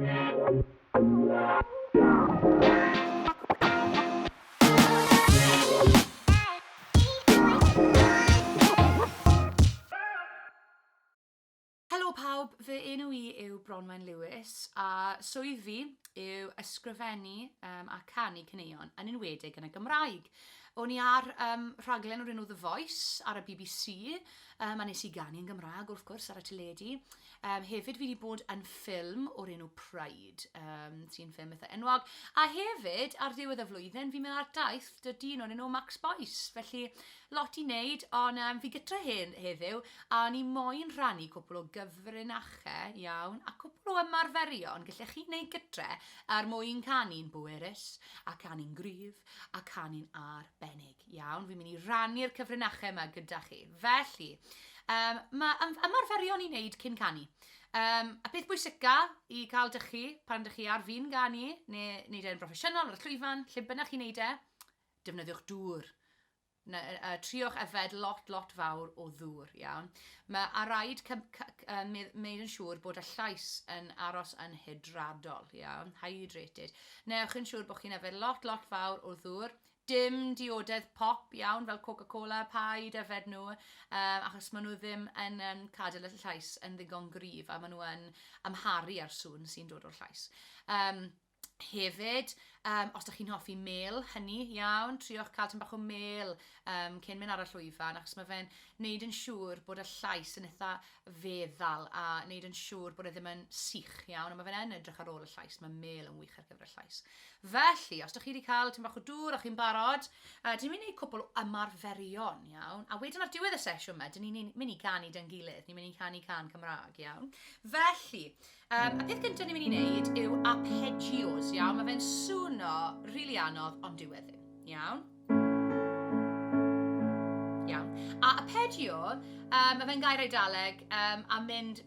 Helo pawb, fy enw i yw Bronwen Lewis a swydd fi yw ysgrifennu um, a canu caneuon yn enwedig yn y Gymraeg. O'n i ar um, rhaglen o'r enw The Voice ar y BBC um, a nes i ganu yn Gymraeg wrth gwrs ar y teledu Um, hefyd fi wedi bod yn ffilm o'r enw Pride, um, sy'n ffilm eitha enwog. A hefyd, ar ddiwedd y flwyddyn, fi'n mynd ar daith dy dyn o'r enw Max Boyce. Felly, lot i wneud, ond um, fi gytra hyn heddiw, a ni moyn rhannu cwpl o gyfrinachau iawn, a cwpl o ymarferion gallech chi wneud gytre er mwyn canu'n bwerus, a canu'n gryf, a canu'n arbennig. Iawn, fi'n mynd i rannu'r cyfrinachau yma gyda chi. Felly, um, mae ym ymarferion i wneud cyn canu. Um, a peth bwysica i cael dych chi pan dych chi ar fin ganu, neu wneud e'n broffesiynol ar y llwyfan, lle bynnag chi'n wneud e, defnyddiwch dŵr. Na, uh, triwch yfed lot, lot fawr o ddŵr, iawn. Mae a rhaid wneud yn siŵr bod y llais yn aros yn hydradol, iawn, hydrated. Newch yn siŵr bod chi'n yfed lot, lot fawr o ddŵr, Dim diodedd pop iawn fel Coca-Cola, paid yfed nhw, yy achos maen nhw ddim yn yym cadw y llais yn ddigon gryf a maen nhw yn amharu ar sŵn sy'n dod o'r llais. Yym hefyd, um, os ydych chi'n hoffi mel, hynny, iawn, triwch cael tyn bach o mel um, cyn mynd ar y llwyfan, achos mae fe'n neud yn siŵr bod y llais yn eitha feddal a neud yn siŵr bod e ddim yn sych iawn, a mae fe'n edrych ar ôl y llais, mae mel yn wych ar gyfer y llais. Felly, os dych chi wedi cael tyn bach o dŵr a chi'n barod, uh, dyn ni'n mynd i wneud cwbl o ymarferion, iawn? A wedyn ar diwedd y sesiwn yma, dyn ni'n mynd i ganu dyn gilydd, ni'n mynd i canu can Cymraeg, iawn? Felly, um, y peth gyntaf ni'n mynd i wneud yw arpeggios, iawn? Mae fe'n swno rili really anodd, ond dyw e ddim, iawn? Iawn. A arpeggio, um, mae fe'n gair eidaleg um, a mynd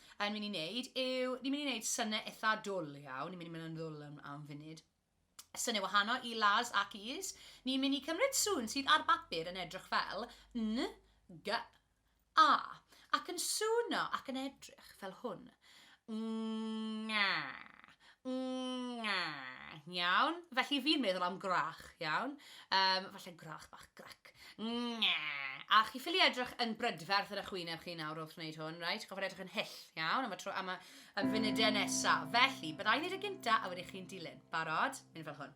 yn mynd i wneud yw, ni'n mynd i wneud synnau eitha dwl iawn, ni'n mynd i mynd yn ddwl am, am funud. Synnau wahanol i las ac is. Ni'n mynd i cymryd sŵn sydd ar bapur yn edrych fel n, g, a, ac yn sŵno ac yn edrych fel hwn. Nga, Ngh, iawn. Felly fi'n meddwl am gwrach, iawn. Um, falle gwrach bach, grac. Ngh. A chi ffili edrych yn brydferth yn y chwyneb chi nawr wrth wneud hwn, reit? Gofod edrych yn hyll, iawn, am y, tro, am y, y funudau nesaf. Felly, byddai'n neud y gynta a wedi chi'n dilyn. Barod? Mynd fel hwn.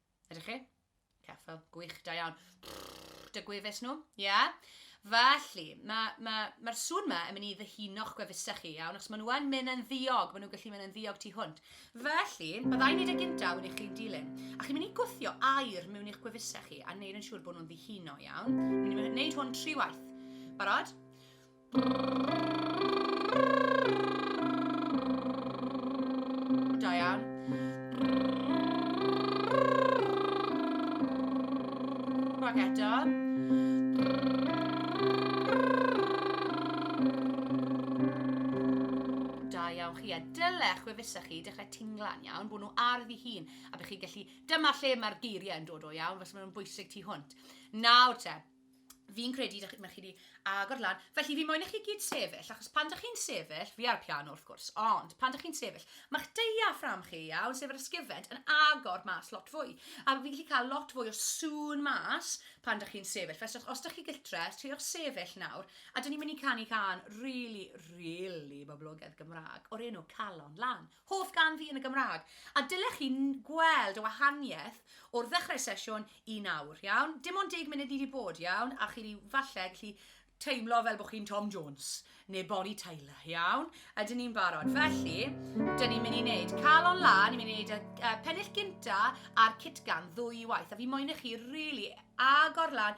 Ydych chi? Ceffyl. Gwych, da iawn. Dy gwefus nhw, ia? Yeah? Felly, mae'r ma, ma, ma sŵn yma yn mynd i ddyhuno'ch gwefusau chi, iawn, achos maen nhw yn mynd yn ddiog, maen nhw'n gallu mynd yn ddiog tu hwnt. Felly, byddai'n neud y gyntaf yn eich chi'n dilyn, a chi'n mynd i gwthio air mewn i'ch gwefusau chi a neud yn siŵr bod nhw'n ddihuno, iawn? Mi'n mynd i wneud hwn tri waith. Barod? hapusach chi, dechrau tingla'n iawn, bod nhw ar ddi hun, a bych chi gallu, dyma lle mae'r geiriau yn dod o iawn, fes maen nhw'n bwysig tu hwnt. Nawr te, fi'n credu dych, mae chi wedi agor lan, felly fi moyn i chi gyd sefyll, achos pan dych chi'n sefyll, fi ar piano wrth gwrs, ond pan dych chi'n sefyll, mae'ch deiafram chi iawn, sef yr ysgifent, yn agor mas lot fwy. A fi'n gallu cael lot fwy o sŵn mas pan dych chi'n sefyll. Felly os, os dych chi gytre, triwch sefyll nawr, a dyn ni'n mynd i canu can rili, really, really boblogaidd Gymraeg o'r enw Calon Lan. Hoff gan fi yn y Gymraeg. A dylech chi gweld y wahaniaeth o'r ddechrau sesiwn i nawr, iawn? Dim ond deg munud ni wedi bod, iawn? A chi wedi falle gallu teimlo fel bod chi'n Tom Jones neu Bonnie Tyler, iawn? A dyn ni'n barod. Felly, dyn ni'n mynd i wneud calon lan, ni'n mynd i wneud y uh, pennill gynta a'r citgan ddwy waith. A fi moyn i chi rili really agor lan,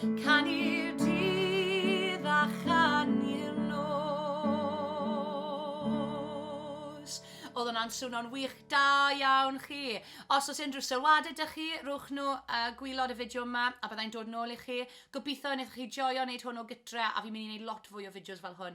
Canu'r dydd a chanu'r nos. Oedd hwnna'n swno'n wych, da iawn chi. Os oes unrhyw sylwadau dych chi, rhowch nhw uh, gwylod y fideo yma a byddai'n dod nôl i chi. Gobeithio y wnaethoch chi joio wneud hwn o gytre a fi'n mynd i wneud lot fwy o fideos fel hwn.